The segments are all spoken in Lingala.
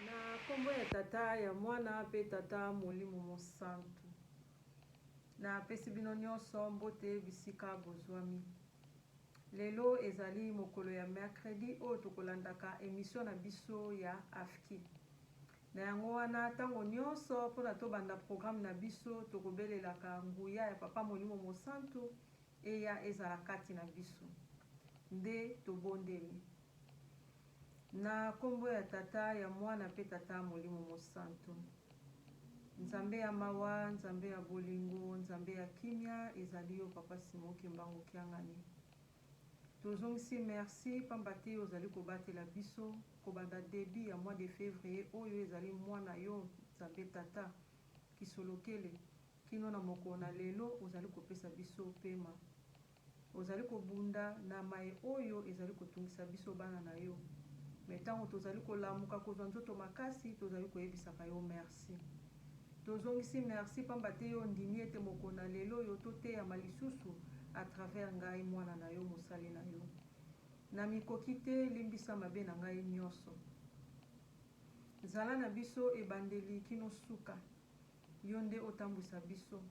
Na kombo ya Tata, ya Mwana pe Tata Molimo Mosantu. Na pesi bino nionso mbote bisika bozuami. Lelo ezali mokolo ya mercredi oyo tokolandaka emission na biso ya AFKI. Na yango wana tango nionso pona tobanda programme na biso tokobelelaka nguya ya Papa Molimo Mosantu eya ezala kati na biso. Nde tobondeli. Na kombo ya tata ya muana pe tata molimo mosantu nzambe ya mawa nzambe ya bolingo nzambe ya kimia ezali yo papa Simon kimbangu kiangani tozongisi merci pamba te ozali kobatela biso kobanda debut ya mois de fevrier oyo ezali mois na yo nzambe tata kisolokele kino na mokolo na lelo ozali kopesa biso pema Ozali kobunda na maye oyo ezali kotungisa biso bana na yo, mais tango tozali kolamuka kozwa nzoto makasi, tozali koyebisaka yo merci. Tozongisi merci pamba te yo ondimi ete mokolo na lelo oyo toteyama lisusu à travers ngai mwana na yo, mosali na yo. Na mikoki te, limbisa mabe na ngai nionso. Zala na biso ebandeli kino suka. Yo nde otambwisa biso.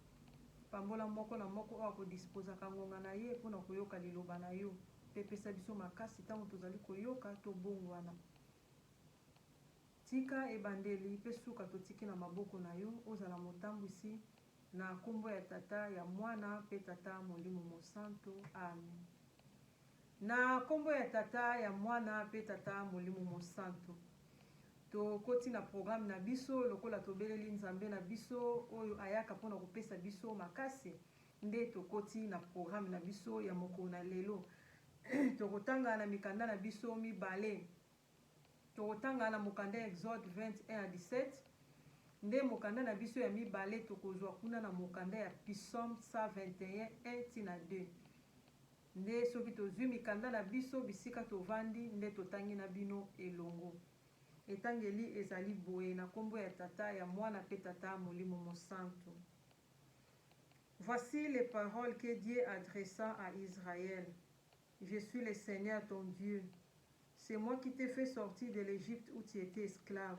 Pambola moko na moko oyo akodispozaka ngonga na ye mpo na koyoka Liloba na yo, mpe pesa biso makasi ntango tozali koyoka tobongwana. Tika ebandeli mpe suka totiki na maboko na yo, ozala motambwisi, na nkombo ya Tata, ya Mwana, mpe Tata Molimo Mosanto. Amen. Na nkombo ya Tata, ya Mwana, mpe Tata Molimo Mosanto. Tokoti na programme na biso. Lokola tobeleli Nzambe na biso, oyo ayaka mpo na kopesa biso makasi, nde tokoti na programme na biso ya mokolo na lelo. Tokotanga na mikanda na biso mibale. Tokotanga na mokanda ya Exode 20, 1 à 17, nde mokanda na biso ya mibale. Tokozwa kuna na mokanda ya Psaume 121, 1 tii na 2. Nde soki tozwi mikanda na biso bisika tovandi nde totangi na bino elongo. Etangeli ezali boye, na kombo ya Tata, ya Mwana mpe Tata Molimo Mosantu. Voici les paroles que Dieu adressa à Israël, Je suis le Seigneur ton Dieu, c'est moi qui t'ai fait sortir de l'Egypte où tu etais esclave.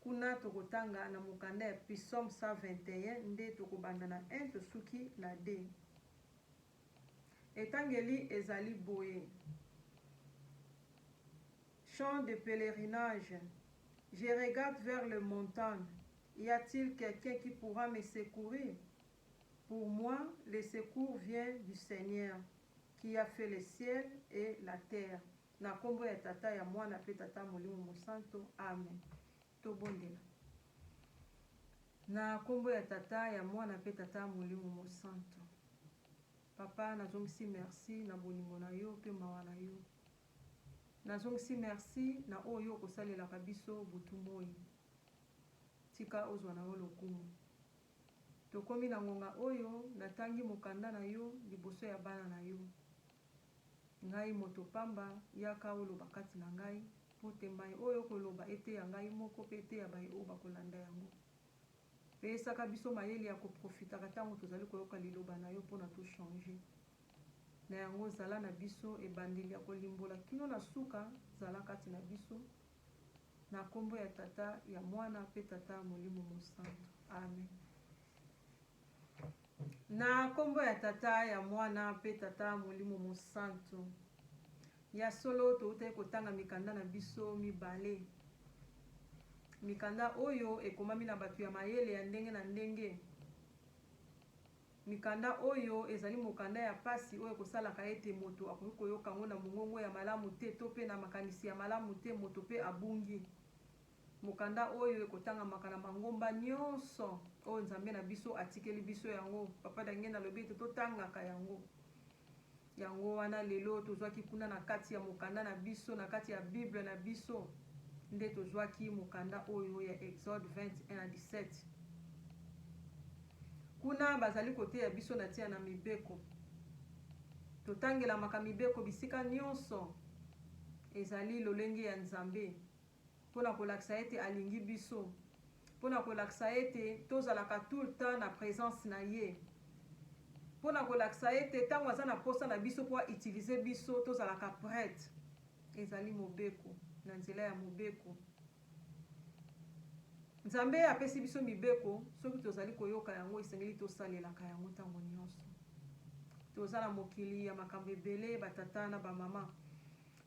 Kuna tokotanga na mokanda ya Psaume 121 nde tokobanda na un tosuki na de. Etangeli ezali boye, Chant de pelerinage, Je regarde vers les montagnes, y a-t-il quelqu'un qui pourra me secourir? Pour moi, le secours vient du Seigneur, qui a fait le ciel et la terre. Na nkombo ya Tata, ya Mwana, mpe Tata Molimo Mosanto, amen. Tobondela. Na nkombo ya Tata, ya Mwana, mpe Tata Molimo Mosanto, Papa, nazongisi merci na bolingo na yo mpe mawa na yo. Nazongisi merci na oyo yo okosalelaka biso butu moi. Tika ozwa na yo lokumu. Tokomi na ngonga oyo natangi mokanda na yo liboso ya bana na yo. Ngai moto pamba, yaka oloba kati na ngai, mpo te mai oyo okoloba eteya ngai moko mpe eteya baye oyo bakolanda yango. Peyesaka biso mayele ya koprofitaka tango tozali koyoka liloba na yo mpo na to changer. Na yango zala na biso ebandeli ya kolimbola kino na suka, zala kati na biso. Na kombo ya Tata, ya Mwana mpe Tata Molimo Mosantu. Amen. Na kombo ya Tata, ya Mwana, mpe Tata Molimo Mosantu. Ya solo, towutaki kotanga mikanda na biso mibale. Mikanda oyo ekomami na bato ya mayele ya ndenge na ndenge. Mikanda oyo ezali mokanda ya pasi oyo ekosalaka ete moto akoki koyoka yango na mongongo ya malamu te to mpe na makanisi ya malamu te, moto mpe abungi. Mokanda oyo ekotangamaka na mangomba nyonso oyo Nzambe na biso atikeli biso yango. Papa Dangenda alobi ete totangaka yango. Yango wana lelo tozwaki kuna na kati ya mokanda na biso, na kati ya Bible na biso, nde tozwaki mokanda oyo ya Exode 20, 1 à 17. Kuna bazali koteya biso na tina na mibeko. Totangelamaka mibeko bisika nyonso. Ezali lolenge ya Nzambe. Mpo na kolakisa ete alingi biso. Mpo na kolakisa ete tozalaka tout le temps na presence na ye. Mpo na kolakisa ete tango aza na posa na biso mpo a utiliser biso tozalaka pret. Ezali mobeko, na nzela ya mobeko. Nzambe apesi biso mibeko, soki tozali koyoka yango esengeli tosalelaka yango tango nionso. Toza na mokili ya makambo ebele ba tata na ba mama.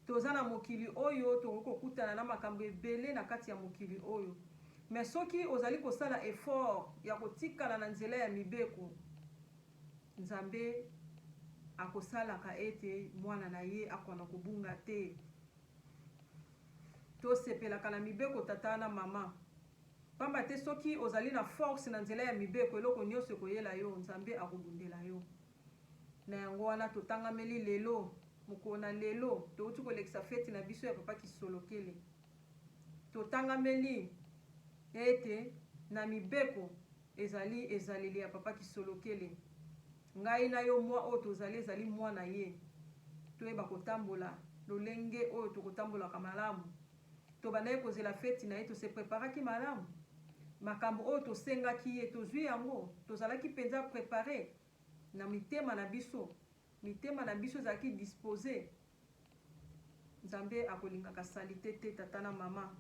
Toza na mokili oyo tokoki kokutana na makambo ebele na kati ya mokili oyo. Mais soki ozali kosala effort ya kotikala na nzela ya mibeko, Nzambe akosalaka ete mwana na ye akona kobunga te. Tosepelaka na mibeko tata na mama. Pamba te soki ozali na force na nzela ya mibeko, eloko nionso ekoyela yo, Nzambe akobundela yo. Na yango wana totangameli lelo, mokolo na lelo, towuti kolekisa feti na biso ya Papa Kisolokele. Totangameli ete na mibeko ezali ezaleli ya Papa Kisolokele. Ngai na yo mwa oyo tozali ezali mwa na ye. Toyeba kotambola lolenge oyo tokotambolaka malamu. Tobandaki kozela feti na ye, to se preparaki malamu? Makambo oyo tosengaki ye, tozui yango? Tozalaki penza prepare? Na mitema na biso. Mitema na biso ezalaki dispose. Nzambe akolingaka salite te, tata na mama.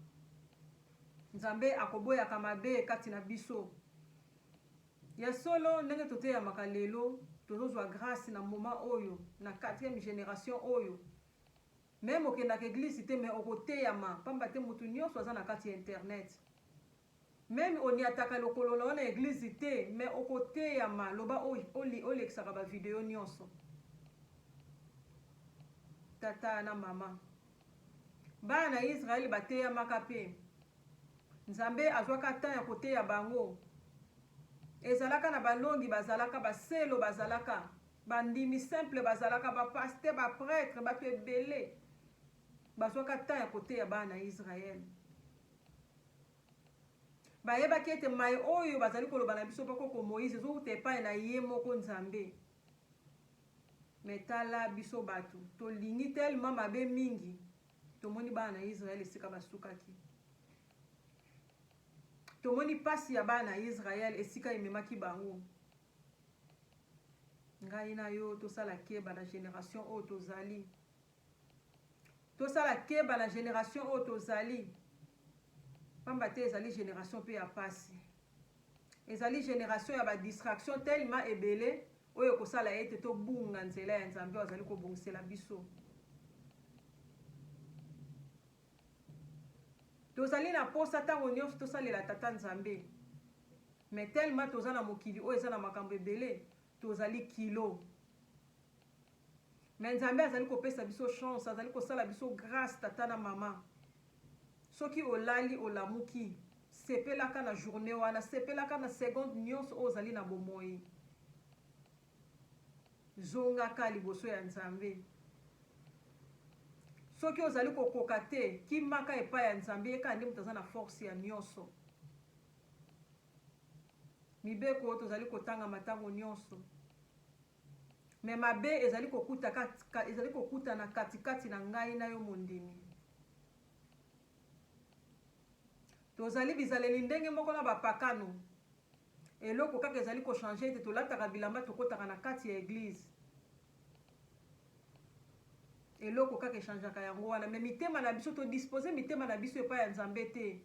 Nzambe akoboyaka mabe kati na biso. Ya solo, ndenge toteyamaka lelo, tozozwa grace na moment oyo, na quatrième generation oyo. Meme okendaka eglise te mais okoteyama, pamba te mutu nionso aza na kati ya internet. Meme oniataka lokolo na yo na eglise te mais oko teyama loba o lekisaka ba video nionso tata na maman bana na Israël ba teyamaka pe nzambe azwaka temps ya koteya bango ezalaka na balongi bazalaka baselo bazalaka bandimi simple bazalaka ba paste ba pretre bato ebele bazwaka temps ya koteya bana na Israël Bayebaki ete mai oyo bazali koloba na biso bakoko Moïse ezowuta epai na ye moko Nzambe. Mais tala biso batu, tolingi tellement mabe mingi, tomoni bana na Israël esika basukaki. Tomoni pasi ya bana na Israël esika ememaki bango. Ngai na yo tosala keba na generation oyo tozali. Tosala keba na generation oyo tozali pamba te ezali generation pe ya pasi. Ezali generation ya ba distraction tellement ebele oyo ekosala ete tobunga nzela ya Nzambe oyo azali kobongisela biso. Tozali na posa tango nionso tosalela Tata Nzambe mais tellement toza na mokili oyo eza na makambo ebele Tozali kilo mais Nzambe azali kopesa biso chance, azali kosala biso grace tata na mama. Soki olali olamuki, sepelaka na journee wana, sepelaka na seconde nionso oyo ozali na bomoyi. Zongaka liboso ya Nzambe. Soki ozali kokoka te, kimaka epai ya Nzambe, ye kaka nde moto aza na force ya nionso. Mibeko tozali kotanga matango nionso mais mabe ezali kokuta kati, ezali kokutana kati kati na ngai na yo mondimi. Tozali bizaleli ndenge moko na bapakano. Eloko kaka ezali kochanger ete tolataka bilamba tokotaka na kati ya eglise. Eloko kaka echangeaka yango wana, mais mitema na biso todispose mitema na biso epai ya Nzambe te.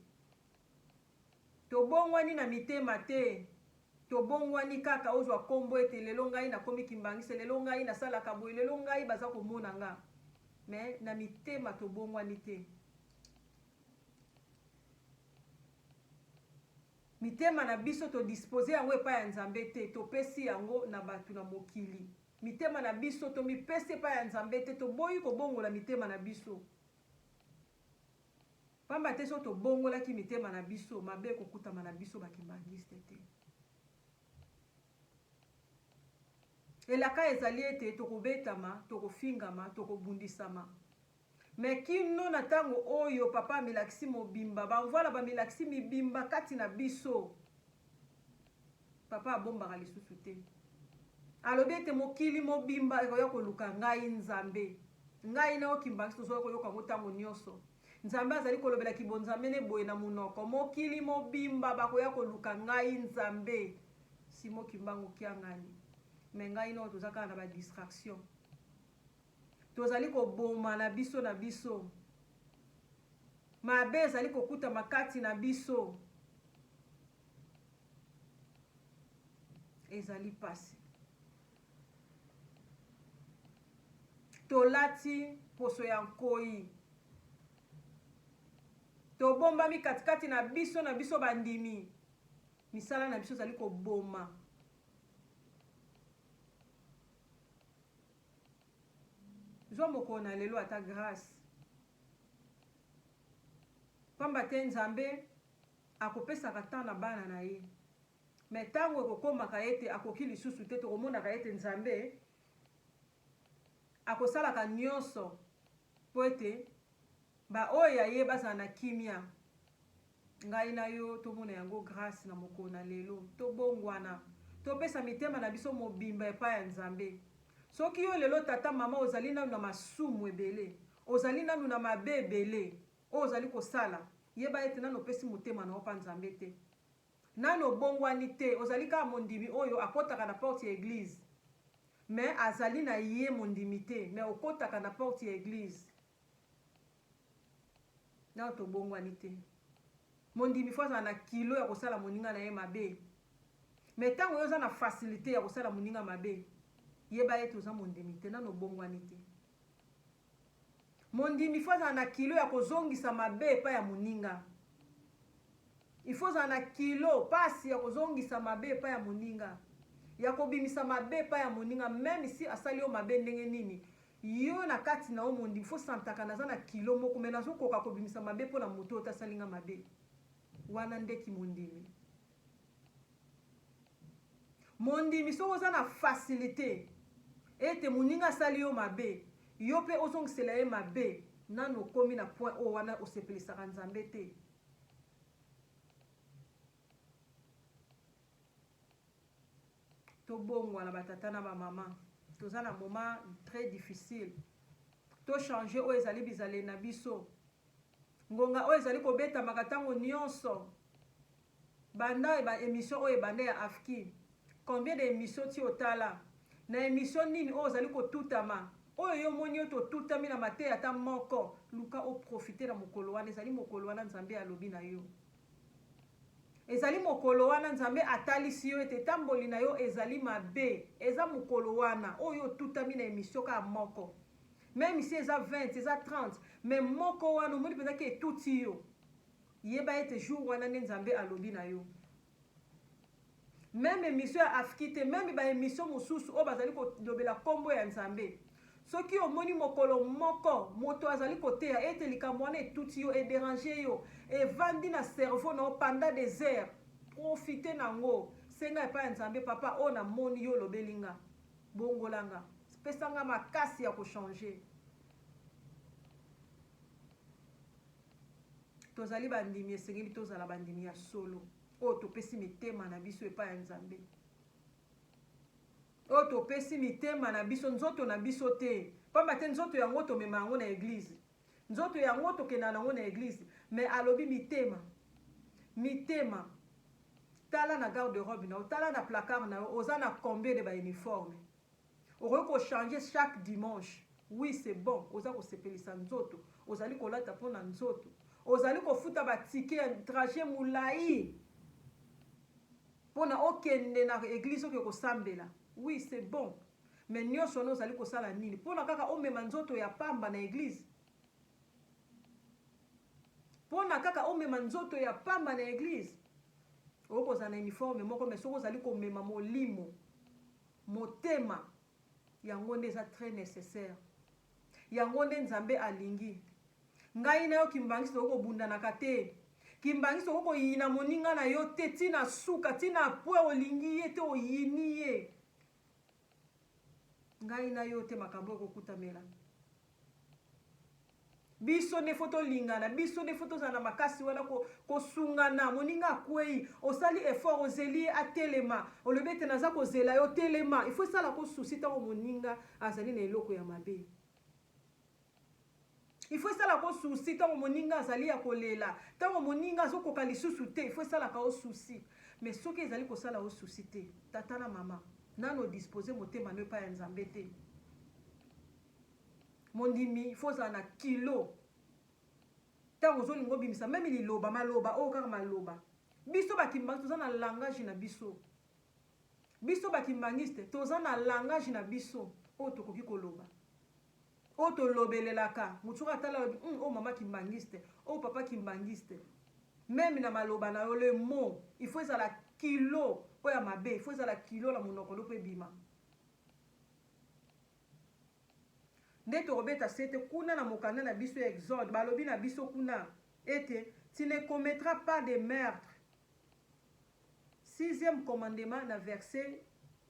Tobongwani na mitema te. Tobongwani kaka ozwa kombo ete lelo ngai nakomi kimbanguiste, lelo ngai nasalaka boye, lelo ngai baza komona nga mais na mitema tobongwani te. Mitema na biso to disposer yango epai ya Nzambe te, topesi yango na batu na mokili. Mitema na biso tomipesi epai ya Nzambe te, toboyi kobongola mitema na biso. Pamba te soki tobongolaki mitema na biso, mabe ekokutama na biso ba kimbanguistes te. Elaka ezali ete tokobetama, tokofingama, tokobundisama. Mais kino na tango oyo papa amilakisi mobimba, ba Mvuala bamilakisi mibimba kati na biso. Papa abombaka lisusu te. Alobi ete mokili mobimba ekoya koluka ngai Nzambe. Ngai na yo kimbanguiste tozoya koyoka yango tango nionso. Nzambe azali kolobela kibonzamene boye na monoko, Mokili mobimba bakoya koluka ngai Nzambe. Simon Kimbangu Kiangani mais ngai nao toza kaka na ba distraction. Tozali kobomana biso na biso. Mabe ezali kokutama kati na biso. Ezali pasi. Tolati mposo ya nkoi. Tobombami katikati na biso na biso bandimi. Misala na biso ezali koboma. Zwa mokolo na lelo ata grâce. Pamba te Nzambe akopesaka temps na bana na ye. Mais tango ekokomaka ete akoki lisusu te, tokomonaka ete Nzambe akosalaka nyonso mpo ete baoyo ya Ye bazala na kimia. Ngai na yo tomona yango grace na mokolo na lelo. Tobongwana, topesa mitema na biso mobimba epai ya Nzambe. Soki yo lelo, tata, mama, ozali nanu na masumu ebele, ozali nanu na mabe ebele oyo ozali kosala, yeba ete nanu opesi motema na yo epai ya Nzambe te. Nanu obongwani te, ozali kaka mondimi oyo akotaka na porte ya eglise mais azali na ye mondimi te mais okotaka na porte ya eglise nanu tobongwani te. Mondimi faut azala na kilo ya kosala moninga na ye mabe mais tango yo oza na facilite ya kosala moninga mabe yeba ete oza mondimi te nanu obongwani te. Mondimi il faut azala na kilo ya kozongisa mabe epai ya moninga. Il faut ozala na kilo pasi ya kozongisa mabe epai ya moninga, ya kobimisa mabe epai ya moninga, meme si asali yo mabe ndenge nini. Yo na kati na yo mondimi il faut santaka naza na kilo moko mais nazokoka kobimisa mabe mpo na moto oyo te asali nga mabe. Wana nde kimondimi. Mondimi, soki oza na facilite ete moninga asali yo mabe, yo mpe ozongisela ye mabe, nanu okomi na point oyo wana osepelisaka Nzambe te. Tobongwana ba tata na ba mama, toza na moment très difficile. To changer oyo ezali bizaleli na biso. Ngonga oyo ezali kobetamaka ntango nyonso Banda ba emission oyo ebanda ya Afki combien de emission ti otala? Na emission nini oyo ozali ko tutama? Oyo yo omoni yo te otutami na mateya ata moko? Luka o profiter na mokolo wana ezali mokolo wana Nzambe alobi na yo. Ezali mokolo wana Nzambe atalisi yo ete etamboli na yo ezali mabe. Eza mokolo wana oyo yo otutami na emission kaka moko. Meme si eza 20 eza 30 mais moko wana omoni penza ke etuti yo. Yeba ete jour wana nde nzambe alobi na yo meme emission ya afki te meme ba emission mosusu oyo bazali kolobela kombo ya nzambe soki omoni mokolo moko moto azali koteya ete likambo wana etuti yo ederange yo evandi na cerveau na yo panda des heures profite na yango senga epai ya nzambe papa oyo namoni yo olobeli nga bongola nga pesa nga makasi ya kochange Tozali bandimi, esengeli tozala bandimi ya solo, oyo topesi mitema na biso epai ya Nzambe, oyo topesi mitema na biso, nzoto na biso te, mpamba te nzoto yango tomema yango na eglize, nzoto yango tokenda nango na eglize, me alobi mitema, mitema tala na garde robe na yo tala na placard na yo oza na combien de bauniforme Okoki ko changer chaque dimanche oui c'est bon oza kosepelisa nzoto ozali kolata mpo na nzoto ozali kofuta ba ticket ya trajet mulayi mpo na okende na eglise oke kosambela oui c'est bon mais nyonso wana ozali kosala nini mpo na kaka omema nzoto ya pamba na eglise mpo na kaka omema nzoto ya pamba na eglise okozala na uniforme moko mais soki ozali komema molimo Motema, yango nde eza très necessaire. Yango nde Nzambe alingi. Ngai na yo Kimbanguiste tokoki kobundanaka te. Kimbanguiste okoki koyina moninga na yo te ti na suka, ti na pwe olingi ye te oyini ye. Ngai na yo te makambo oyo ekokutamela. Biso nde faut tolingana, biso nde faut tozala na makasi wana kosungana. Moninga akueyi, osali effort, ozeli ye atelema, olobi ete naza kozela yo, telema. Il faut esalaka yo souci tango moninga azali na eloko ya mabe. Il faut esalaka yo souci tango moninga azali ya kolela, tango moninga azokoka lisusu te, il faut esalaka yo souci. Mais soki ezali kosala yo souci te, tata na mama, nanu o disposer motema no epai ya Nzambe te. Mondimi il faut ozala na kilo tango ozolinga obimisa meme liloba maloba oyo kaka maloba biso ba kimbanguiste toza na langage na biso biso ba kimbanguiste toza na langage na biso oyo tokoki koloba oyo tolobelelaka moto soki atala alobi hum, oyo mama kimbanguiste oyo papa kimbanguiste meme na maloba na yo le mot il faut ezala kilo oyo ya mabe il faut ezala kilo na monoko nde mpo ebima Nde tokobeta sete kuna na mokanda na biso ya Exode, balobi na biso kuna ete, Tu ne commettras pas de meurtre, sixième commandement na verse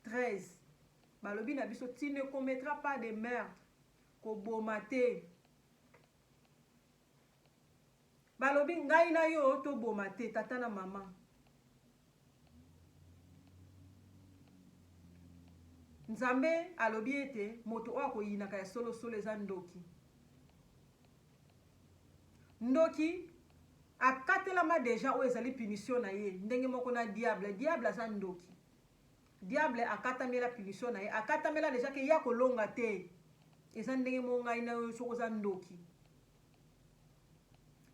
13, balobi na biso, Tu ne commettras pas de meurtre, koboma te. Balobi ngai na yo to boma te tata na maman. Nzambe alobi ete moto oyo akoyinaka ya solo solo eza ndoki. Ndoki akatelama deja oyo ezali punition na ye ndenge moko na diable. Diable aza ndoki. Diable akatamela punition naye akatamela dejà ke ye ako longa te eza ndenge moko ngai na yo soki oza ndoki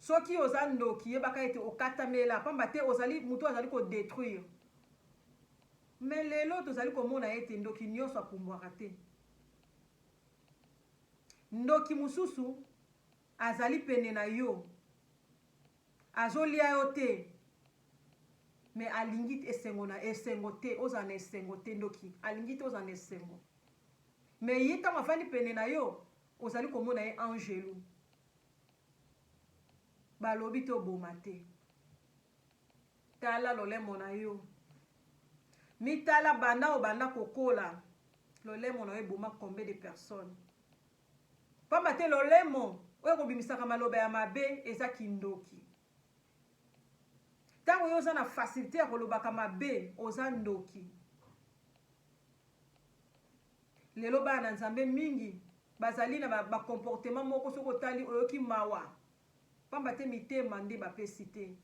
soki oza ndoki yebaka ete okatamela pamba te ozali mutu azali ko detruire mais lelo tozali komona ete ndoki nionso apumbwaka te ndoki mususu azali pene na yo Azolia yo te mais alingi esengo na esengo te ozala na esengo te ndoki alingi te ozala na esengo mais ye ntango afandi pene na yo ozali komona ye angelu balobi te oboma te tala lolemo na yo mitala banda obanda kokola lolemo na yo eboma combien de personnes Pamba te lolemo oyo ekobimisaka maloba ya mabe eza kindoki. Tango yo oza na facilite ya kolobaka mabe, oza ndoki. Lelo bana na Nzambe mingi bazali na ba comportement moko soki otali oyoki mawa. Pamba te mitema nde bapesi te.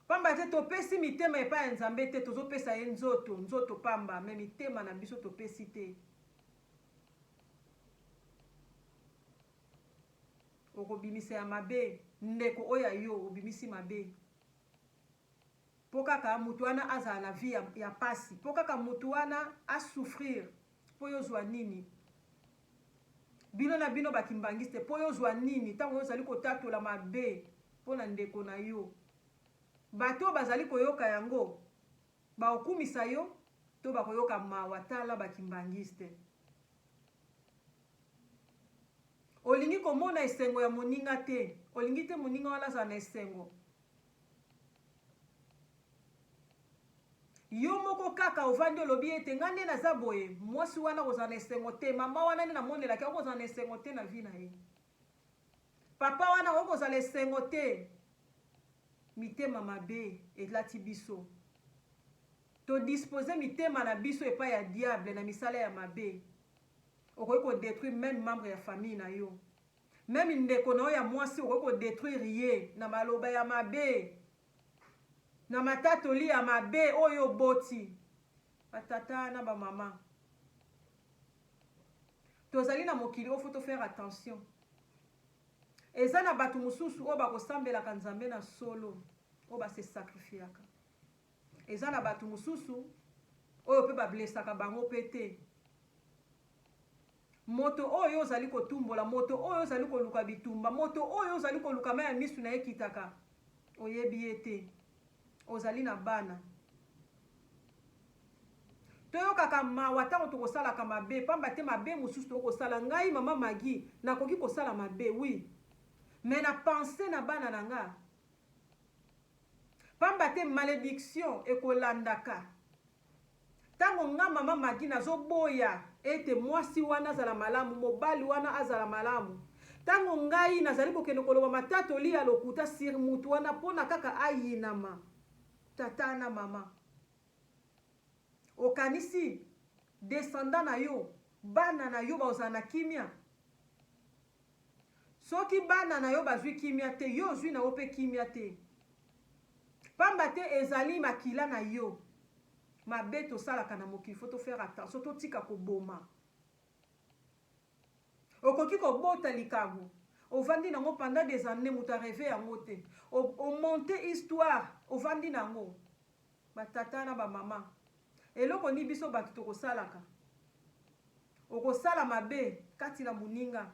Pamba te topesi mitema epai ya Nzambe te, tozopesa ye nzoto, nzoto pamba, mais mitema na biso topesi te. Okobimisa ya mabe ndeko oyo ya yo obimisi mabe po kaka mutu wana azala na vie ya, ya pasi po kaka mutu wana a souffrir po yo zwa nini bino na bino ba kimbanguiste po yo zwa nini tango yo zali kotatola mabe po na ndeko na yo bato bazali koyoka yango Bakokumisa yo to bakoyoka mawa tala ba kimbanguiste. Olingi komona esengo ya moninga te olingi te moninga wana azala na esengo. Yo moko kaka ovandi olobi ete nga nde naza boye mwasi wana akozala na esengo te mama wana nde namonelaka ye akozala na esengo te na vie na ye. Papa wana akoki kozala esengo te mitema mabe elati biso to dispose mitema na biso epai ya diable na misala ya mabe okoki ko detruire meme membre ya famille na yo meme ndeko na yo ya mwasi okoki ko detruire ye na maloba ya mabe na matatoli ya mabe oyo oboti Ba tata na ba mama tozali na mokili oyo faut to faire attention eza na batu mususu oyo bako sambelaka Nzambe na solo oyo ba se sacrifiaka eza na batu mususu oyo pe ba blessaka bango pe te Moto oyo ozali kotumbola, moto oyo ozali koluka bitumba, moto oyo ozali koluka mai ya miso na ye ekitaka, oyebi ye te. Ozali na bana. Toyokaka mawa ntango tokosalaka mabe, mpamba te mabe mosusu tokoki kosala. Ngai, Mama Maggie, nakoki kosala mabe, oui. Mais na penser na bana na nga. Mpamba te malediction ekolandaka. Tango nga mama Maggie nazo boya ete mwasi wana azala malamu, mobali wana azala malamu, tango ngai nazali kokende koloba matatoli ya lokuta sur mutu wana mpo na kaka ayinama, tata na mama okanisi descendant na yo, bana na yo bakozala na kimia? Soki bana na yo bazwi kimia te, yo ozwi na yo mpe kimia te. Pamba te ezali makila na yo. Mabe tosalaka na mokili, faut to faire attention, totika koboma. Okoki kobota likambo, ovandi nango pendant des annees, moto a rever yango te. O monter histoire, ovandi nango. Ba tata na ba mama eloko nini biso batu tokosalaka okosala mabe kati na moninga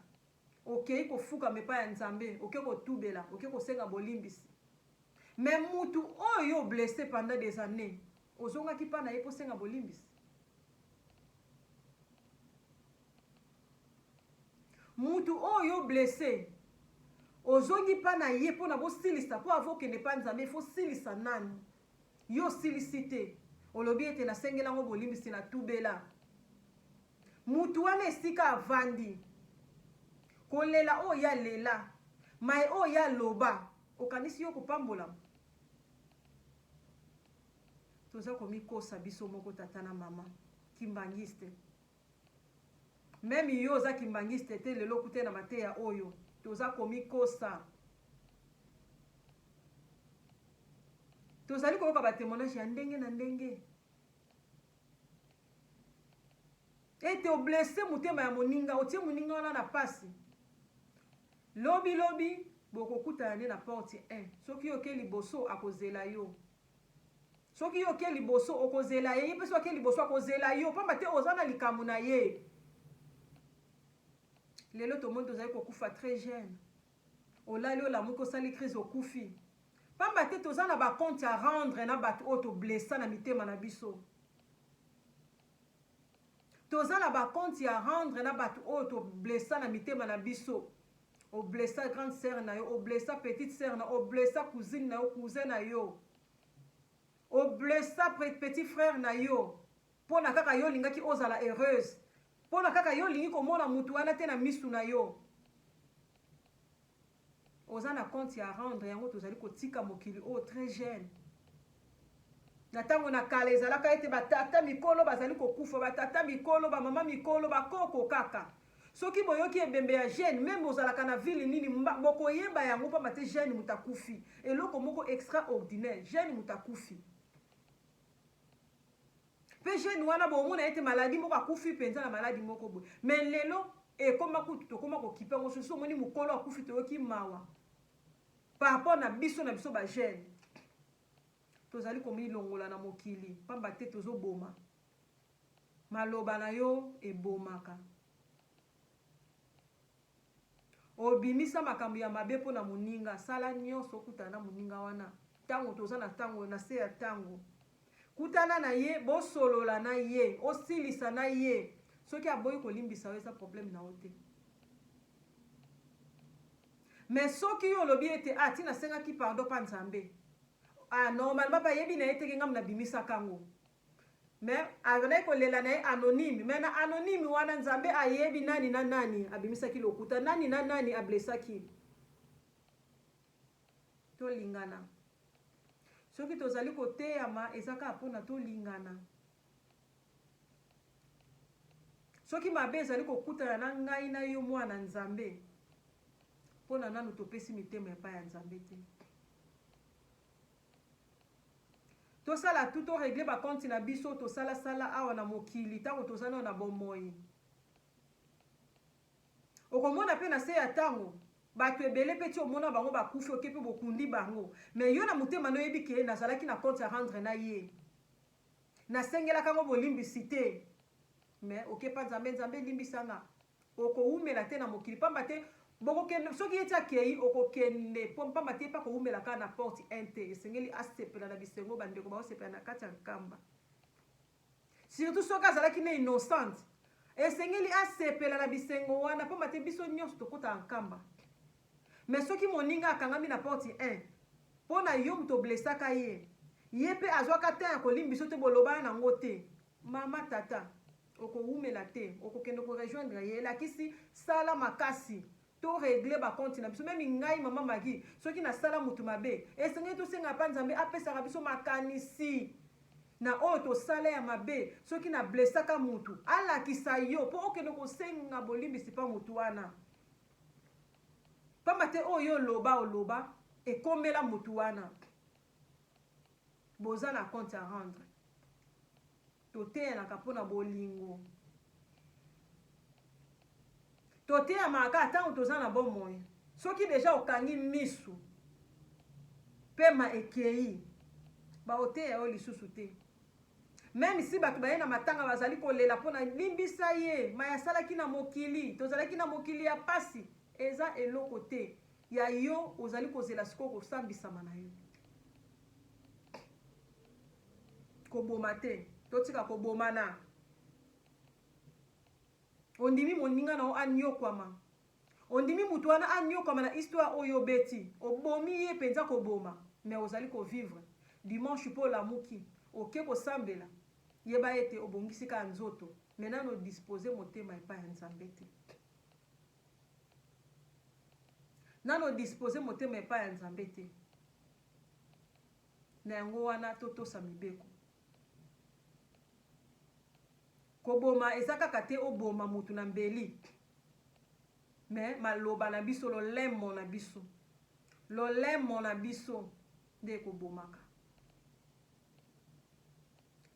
okeyi kofukama epai ya nzambe oke kotubela oke kosenga bolimbisi mais mutu oyo yo blesse pendant des annees ozongaki pa na ye posenga bolimbisi Mutu oyo yo blesse ozongi pa na ye pona bosilisa po avo kende pa nzambe il faut silisa nanu yo osilisi te olobi ete na sengela ngo bolimbisi na tubela mutu wana esika avandi kolela oyo ya lela maye oyo ya loba okanisi yo kopambolama toza komikosa biso moko tata na mama kimbangiste Meme yo oza kimbanguiste te lelo kute na mateya oyo toza komikosa tozali koyoka ba temoignage ya ndenge na ndenge ete oblesse motema ya moninga otie moninga wana na pasi lobi lobi bokokutana nde na porte 1 soki oke liboso akozela yo Soki yo oke liboso, okozela ye, ye mpe soki ake liboso, akozela yo, pamba te oza na likambo na ye. Lelo tomoni tozali kokufa tres jeune. Olali, olamuki, osali crise, okufi. Pamba te toza na ba comptes à rendre na bato oyo to blessa na mitema na biso. Toza na ba comptes ya rendre na batu oyo to blessa na mitema na biso. O blessa grande sœur na yo, o blessa petite sœur na yo, o blessa cousine na yo, cousin na yo. O blessa petit frère na yo pona kaka yo olingaki ozala heureuse, pona kaka yo olingi komona mutu wana te na misu na yo. Oza na compte ya rendre yango tozali kotika mokili oyo très jeune. Na tango na kala ezalaka ete ba tata mikolo bazali kokufa, ba tata mikolo, ba mama mikolo, ba koko kaka. Soki boyoki ebembe ya jeune meme bozalaka na ville nini bokoyeba yango pamba te jeune moto akufi. Eloko moko extraordinaire, jeune moto akufi. Pe jeune wana bomona yete maladie moko akufi penza na maladi moko boye mais lelo ekoma kutu tokoma kokipe yango sosi omoni mukolo akufi toyoki mawa par rapport na biso na biso ba jeune tozali komilongola na mokili pamba te tozoboma maloba na yo ebomaka Obimisa makambo ya mabe mpo na moninga, sala nyonso okutana na moninga wana ntango toza na ntango na se ya ntango. Kutana na ye, bosolola na ye, osilisa na ye. Soki aboyi kolimbisa yo, eza probleme na yo te. Me soki yo olobi ete ah, ti nasengaki pardon mpa Nzambe ah, normalement mpe ayebi na ye te ke ngambo nabimisaka yango, Mais azalaki kolela na ye anonyme mais na anonyme wana nzambe ayebi nani na nani abimisaki lokuta nani na nani a blessaki tolingana soki tozali koteyama eza kaka mpona tolingana soki mabe ezali kokutana na ngai na yo mwana nzambe mpona nanu topesi mitema epai ya nzambe te Tosala tout to regler ba comptes na biso tosala sala awa na mokili tango toza nano na bomoi. Okomona pe na se ya tango batu ebele pe ti omona bango bakufi oke pe bokundi bango mais yo na motema no oyebi ke nazalaki na compte a rendre na ye. Nasengelaka ngo bolimbisi te mais oke pa Nzambe, Nzambe limbisa nga. Okowumela te na mokili, pamba te bokokende, soki ye ti akeyi, okokende, po, pamba te ye pe akowumela kaka na porte en te. Esengeli asepela na bisengo, bandeko bakosepela na kati ya nkamba. Surtout soki azalaki na innocente, esengeli asepela na bisengo wana, pamba te biso nionso tokotaka nkamba. Mais soki moninga akangami na porte en, po na yo moto o blessaka ye, ye pe azwaka temps ya kolimbiso te, bolobana na yango te, mama, tata, Okowumela te okokende ko rejoindre ye elakisi sala makasi to regle ba compte na biso meme ngai maman Maggie soki na sala mutu mabe esengeli tosenga epa nzambe apesaka biso makanisi na oyo tosala ya mabe soki na blessaka mutu alakisa yo po okende kosenga bolimbisi pa mutu wana pamba te oyo yo oloba oloba ekomela mutu wana boza na compte a rendre Toteyanaka mpo na bolingo. Toteyamaka kaka ntango toza na bomoi. Soki deja okangi misu, pema ekeyi, bakoteya yo lisusu te. Meme si bato baye na matanga bazali kolela mpo na limbisa ye, mai asalaki na mokili, tozalaki na mokili ya pasi, eza eloko te. Ya yo ozali kozela sikoyo kosambisama na yo. Koboma te. Totika kobomana. Ondimi moninga na yo anyokwama. Ondimi moto wana anyokwama na histoire oyo obeti. Obomi ye mpenza koboma. Mais ozali kovivre. Dimanche mpo olamuki. Oke kosambela. Yeba ete obongisi kaka nzoto. Mais nanu odispose motema epai ya Nzambe te. Nanu o disposer motema epai ya Nzambe te. Na yango wana totosa mibeko. Koboma eza kaka te oboma motu na mbeli. Mais maloba na biso, lolemo na biso. Lolemo na biso nde ekobomaka.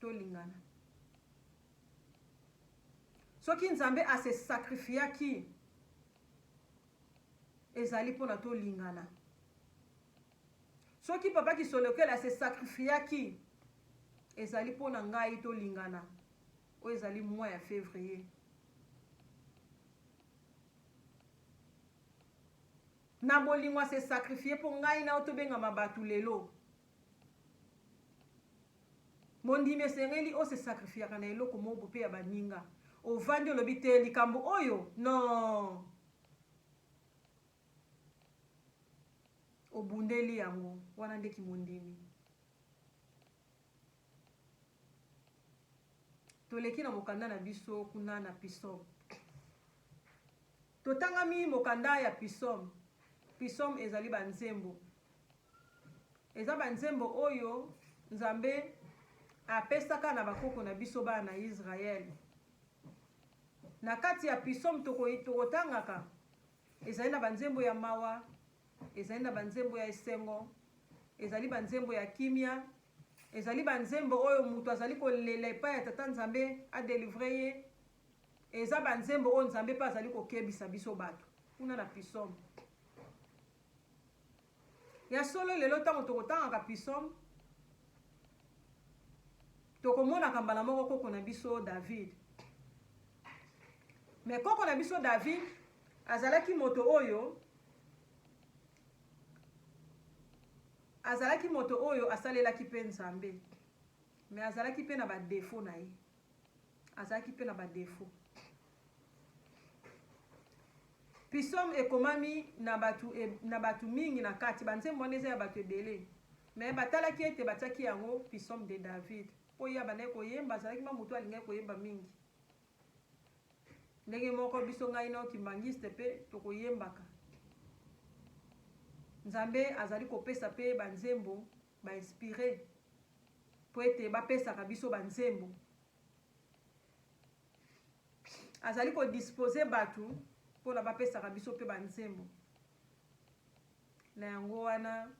tolingana soki nzambe ase sacrifiaki ezali mpona tolingana soki papa kisolokele ase sacrifiaki ezali mpo na ngai tolingana oyo ezali mois ya février Na bolingo a se sacrifier mpo ngai na yo tobengama bato lelo. Mondimi esengeli o se sacrifiaka na eloko moko mpe ya baninga. Ovandi olobi te likambo oyo non. Obundeli yango wana nde kimondimi. Toleki na mokanda na biso kuna na Pisop. Totangami mokanda ya Pisome. Pisome ezali ba nzembo. Eza ba nzembo oyo Nzambe apesaka na ba koko na biso bana na Israël. Na kati ya Pisome toko tokotangaka ezali na ba nzembo ya mawa, ezali na ba nzembo ya esengo, ezali ba nzembo ya kimia, ezali ba nzembo oyo mutu azali kolela epai ya Tata Nzambe a delivrer ye. Eza ba nzembo oyo Nzambe pe azali ko kebisa biso batu. Kuna na pisome. Ya solo lelo tango toko tangaka pisome, toko monaka mbala moko koko na biso David. Mais koko na biso David azalaki moto oyo azalaki moto oyo asalelaki pe Nzambe. Mais azalaki pe na ba defaut na ye. Azalaki mpe na ba defauts. Psaumes ekomami na bato e, na bato mingi na kati. Ba nzembo wana eza ya bato ebele. Mais batalaki ete batiaki yango Psaumes de David. Mpo ye abandaki koyemba, azalaki mwa moto alingaki koyemba mingi. Ndenge moko biso ngai na yo kimbangiste mpe tokoyembaka. Nzambe azali kopesa mpe ba nzembo ba inspire mpo ete bapesaka biso banzembo azali kodispose bato mpona bapesaka biso mpe banzembo na yango wana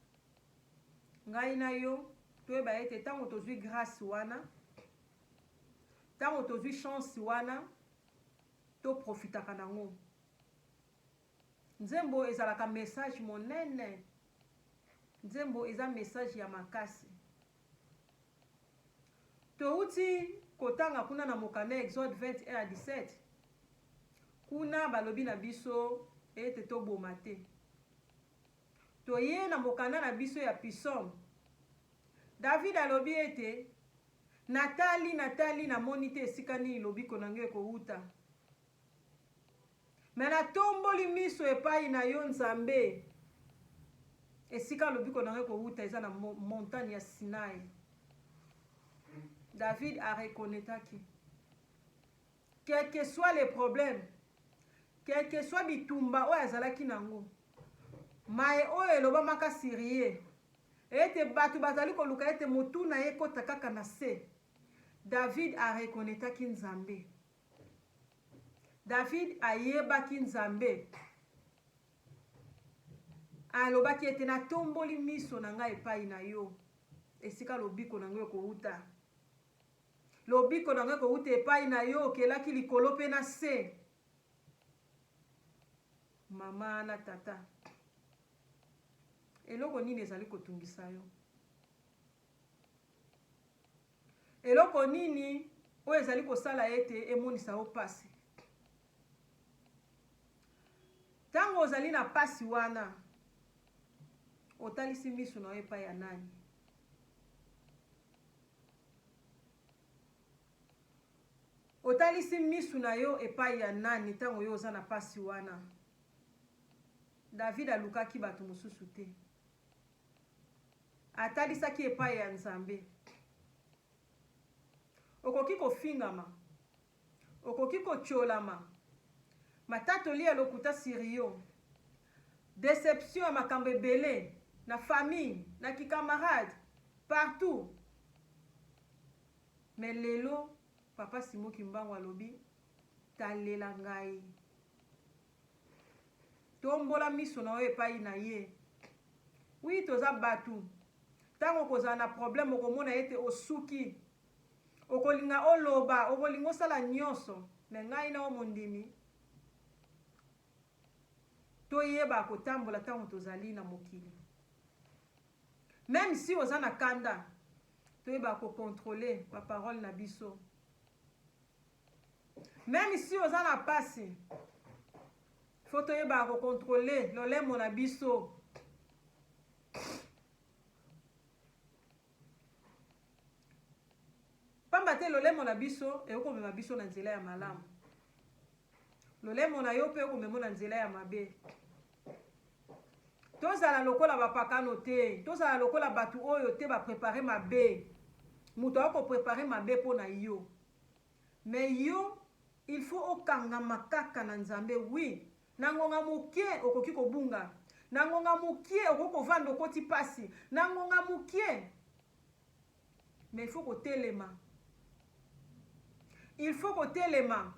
ngai na yo toyeba ete ntango tozwi grâce wana ntango tozwi chance wana toprofitaka nango Nzembo ezalaka message monene. Nzembo eza message ya makasi. Towuti kotanga kuna na mokanda Exode 20 1 à 17. Kuna balobi na biso ete toboma te. Toye na mokanda na biso ya Pisome. David alobi ete natali natali namoni te esika nini lobiko na ngai ekowuta. Mais natomboli miso epayi na yo Nzambe, esika lobiko na ngai ekowuta eza na montagne ya Sinaï. David a reconnetaki quel que soit les problèmes, quel que soit bitumba oyo azalaki na yango, maye oyo elobamaka sur ye ete bato bazali koluka ete motu na ye ekota kaka na se, David a reconnetaki Nzambe. David ayebaki Nzambe. Alobaki ete, Natomboli miso na ngai epai na yo, esika lobiko na ngai ekouta. Lobiko na ngai ekouta epai na yo, okelaki likolo mpe na se. Mama na tata, eloko nini ezali kotungisa yo? Eloko nini oyo ezali kosala ete emonisa yo mpasi? Ntango ozali na mpasi wana, otalisi miso na yo epai ya nani? otalisi misu na yo epai ya nani ntango yo oza na mpasi wana david alukaki bato mosusu te Atalisaki epai ya Nzambe. Okoki kofingama. Okoki kotiolama. Matatoli ya lokuta sur yo. Deception ya makambo ebele. Na famille, na ki camarade, partout. Mais lelo, Papa Simon Kimbangu alobi, talela ngai. Tombola miso na yo epayi na Ye. Oui, toza batu. Tango okozala na problème, okomona ete osuki. Okolinga oloba, okolinga osala nionso, mais ngai na yo mondimi, toyeba kotambola tango tozali na mokili. Meme si oza na kanda, toyeba ko controler ba paroles na biso. Meme si oza na pasi faut toyebaka ko controle lolemo na biso pamba te lolemo na biso ekoki komema biso na nzela ya malamu lolemo na yo mpe okomema na nzela ya mabe tozala lokola bapakano te tozala lokola bato oyo te baprepare mabe moto akoprepare mabe mpo na yo Mais yo il faut okangama kaka na Nzambe oui na ngonga mukie okoki kobunga na ngonga mukie okoki kovanda okoti pasi na ngonga mukie mais il faut kotelema il faut kotelema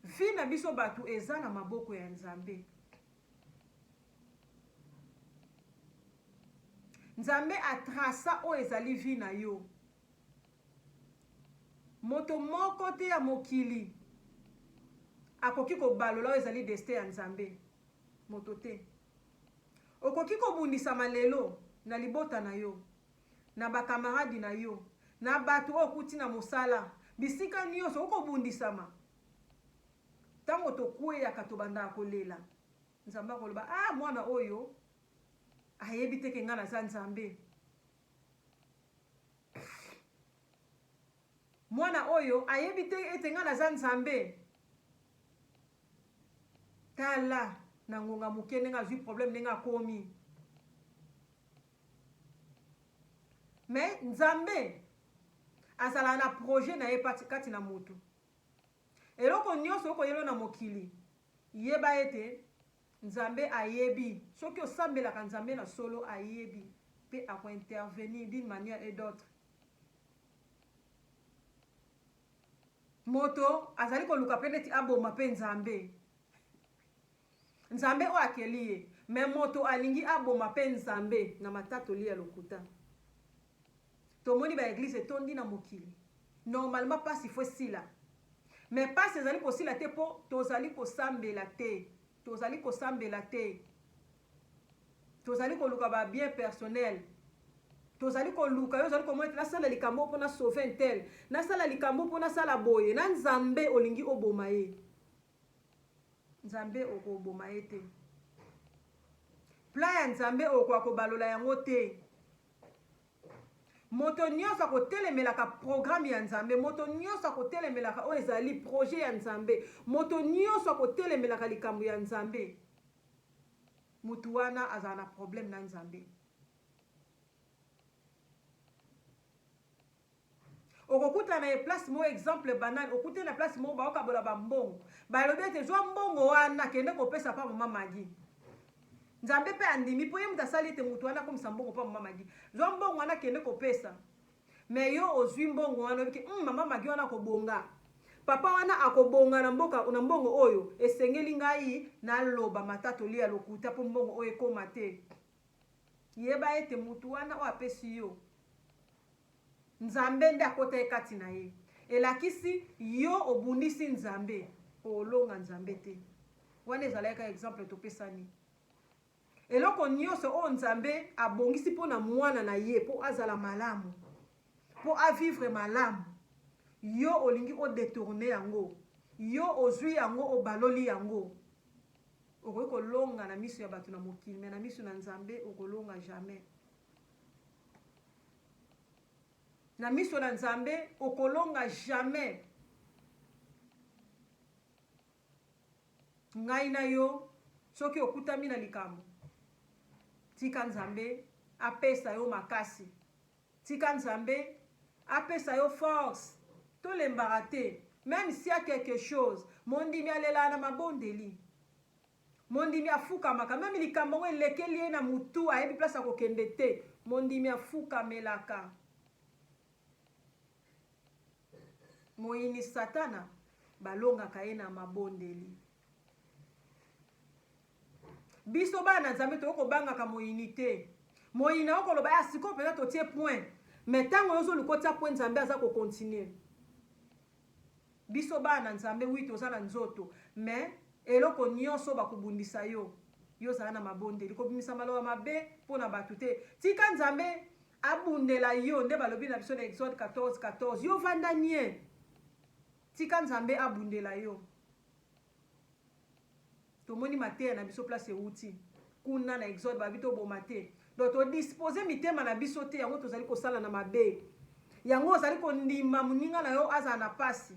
vie na biso batu eza na maboko ya Nzambe Nzambe atrasa oyo ezali vie na yo Moto moko te ya mokili akoki kobalola oyo ezali destin ya Nzambe. Moto te. Okoki kobundisama lelo, na libota na yo, na ba camarade na yo, na bato oyo okuti na mosala, bisika nionso okoki kobundisama. Tango tokweyaka, tobandaka kolela. Nzambe akoloba, ah, mwana oyo ayebi te ke ngai naza Nzambe. mwana oyo ayebi te ete ngai naza nzambe tala na ngonga moke ndenge azwi problème ndenge akomi me nzambe azalaka na projet na ye kati na motu eloko nyonso okoyelo na mokili yeba ete Nzambe ayebi. Soki osambelaka Nzambe na solo, ayebi pe ako intervenir d'une manière et d'autre. Moto azali koluka pe neti aboma pe Nzambe. Nzambe oyo akeli ye. Mais moto alingi aboma pe Nzambe na matatoli ya lokuta. Tomoni ba eglise etondi na mokili normalement pasi faut esila mais pasi ezali kosila te po tozali kosambela te tozali kosambela te tozali koluka ba bien personnel tozali koluka yo ozali komona ete nasala likambo mpo na sauve ntel nasala likambo mpo nasala boye na nzambe olingi oboma ye Nzambe okoboma ye te. Plan ya Nzambe okoka kobalola yango te. Moto nyonso akotelemelaka programme ya Nzambe, moto nyonso akotelemelaka oyo ezali projet ya Nzambe, moto nyonso akotelemelaka likambo ya Nzambe, moto wana azala na problème na Nzambe. Okokuta na ye place moko exemple banal okute na place moko baokabola ba mbongo balobi ete zwa mbongo wana kende kopesa pa mama magi nzambe mpe andimi mpo ye moto asali ete moto wana akomisa mbongo pa mama magi zwa mbongo wana kende kopesa me yo ozwi mbongo wana obiki mm, mama magi wana akobonga papa wana akobonga na mboka na mbongo oyo esengeli ngai naloba matatoli ya lokuta mpo mbongo oyo ekoma te Yeba ete mutu wana oyo apesi yo Nzambe nde akota ye kati na ye. Elakisi yo obundisi Nzambe po olonga Nzambe te. Wana ezalaki kaka exemple topesani. Eloko nionso oyo Nzambe abongisi po na mwana na ye po azala malamu, po a vivre malamu, yo olingi o detourner yango, yo ozui yango obaloli yango. Okoki kolonga na misu ya batu na mokili mais na misu na Nzambe okolonga jamais. Na miso na Nzambe okolonga jamais. Ngai na yo soki okutami na likambo tika Nzambe apesa yo makasi Tika nzambe apesa yo force tolembaka te meme s'il ya quelque chose mondimi alelaka na mabondeli mondimi afukamaka meme likambo yango elekeli ye na mutu ayebi place ya kokende te mondimi afukamelaka moyini satana balongaka ye na mabondeli. Biso bana na Nzambe tokoki kobangaka moyini te. Moyini akoki koloba ya sikoyo mpenza totie point, mais ntango yo ozoluka otia point, Nzambe aza kokontinue. Biso bana na Nzambe, wi toza na nzoto, mais eloko nyonso bakobundisa yo, yo zala na mabondeli. Kobimisa maloba mabe mpo na bato te. Tika Nzambe abundela yo, nde balobi na biso na Exode 14, 14. Yo vanda nie, tika Nzambe abundela yo. Tomoni mateya na biso place ewuti kuna na exode babi toboma te donc todispose mitema na biso te yango tozali kosala na mabe yango ozali kondima moninga na yo azala na pasi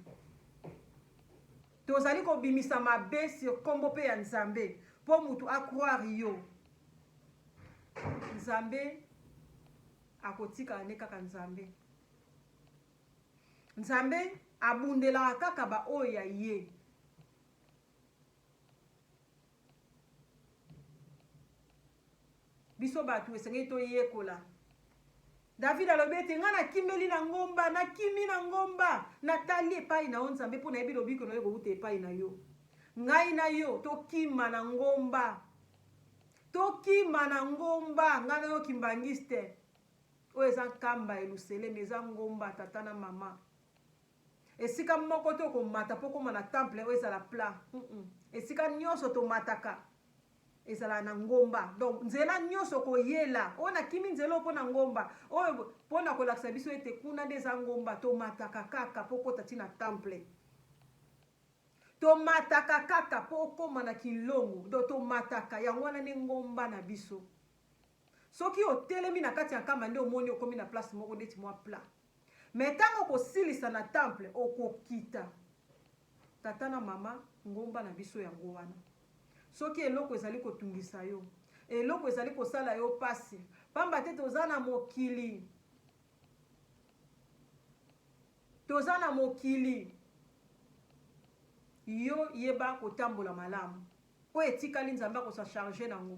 tozali kobimisa mabe sur nkombo mpe ya nzambe mpo motu acroire yo nzambe akotikala nde kaka nzambe Nzambe abundelaka kaka ba oyo ya ye. Biso batu esengeli toyekola. David alobi ete ngai nakimeli na ngomba, nakimi na ngomba, natali epai na yo Nzambe mpo nayebi lobiko na yo ekowuta epai na yo. Ngai na yo tokima na ngomba, tokima na ngomba, ngai na yo kimbangiste. Oyo eza nkamba Yeluselemi, eza ngomba ya tata na mama. Esika moko te okomata mpo okoma na temple oyo ezala plat. Esika nyonso tomataka ezala na ngomba. Donc nzela nyonso okoyela, oyo nakimi nzela oyo mpo na ngomba, oyo mpo na kolakisa biso ete kuna nde eza ngomba, tomataka kaka mpo okota ti na temple. Tomataka kaka mpo okoma na kilongo, donc tomataka, yango wana nde ngomba na biso. Soki otelemi na kati ya nkamba nde omoni okomi na place moko neti mwa plat. Mais tango okosilisa na temple, okokita. Tata na mama, ngomba na biso yango wana. Soki eloko ezali kotungisa yo, eloko ezali kosala yo pasi, pamba te toza na mokili. Toza na mokili. Yo yeba kotambola malamu. Oyo etikali Nzambe ako sa charger nango.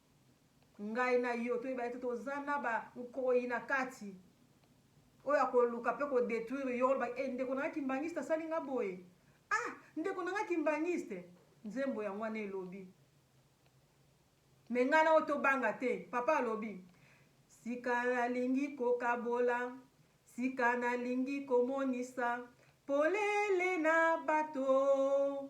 Ngai na yo toyeba ete toza na ba nkoyi na kati oyo akoluka pe ko detruire yo oloba eh ndeko na nga kimbanguiste asali nga boye ah ndeko na nga kimbanguiste nzembo yango wana elobi mais ngai na yo tobanga te papa alobi sika nalingi kokabola sika nalingi komonisa polele na bato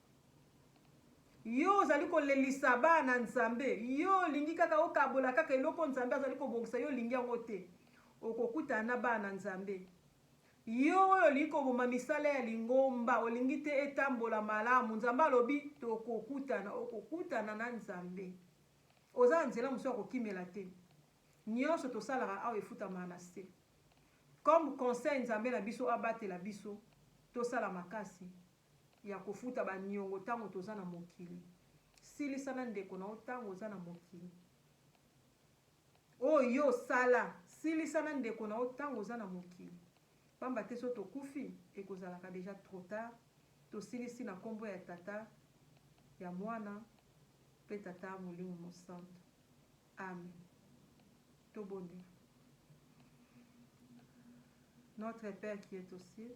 Yo ozali kolelisa bana na Nzambe, yo olingi kaka okabola kaka eloko Nzambe azali kobongisa, yo olingi yango te, okokutana na bana na Nzambe. Yo oyo olingi koboma misala ya lingomba, olingi te etambola malamu, Nzambe alobi tokokutana, okokutana na Nzambe. Oza na nzela mosusu ya kokimela te. Nionso tosalaka awa efutamaka na se. Comme conseil Nzambe na biso abatela biso, tosala makasi ya kofuta ba niongo tango toza na mokili silisa na ndeko na yo tango oza na mokili oyo yo osala silisa na ndeko na yo tango oza na mokili pamba te so tokufi ekozalaka deja trop tard tosilisi na kombo ya tata ya mwana pe tata molimo mosantu amen tobondela notre père qui est au ciel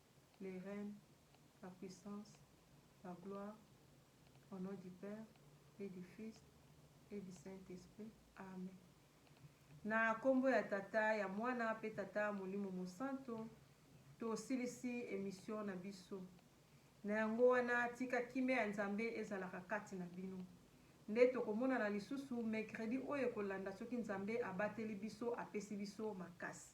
Le règne, la puissance, la gloire au nom du Père et du Fils et du Saint Esprit amen na kombo ya tata ya mwana pe tata molimo mosanto tosilisi emission na biso na yango wana tika kimia ya nzambe ezalaka kati na bino nde tokomonana lisusu mercredi oyo ekolanda soki nzambe abateli biso apesi biso makasi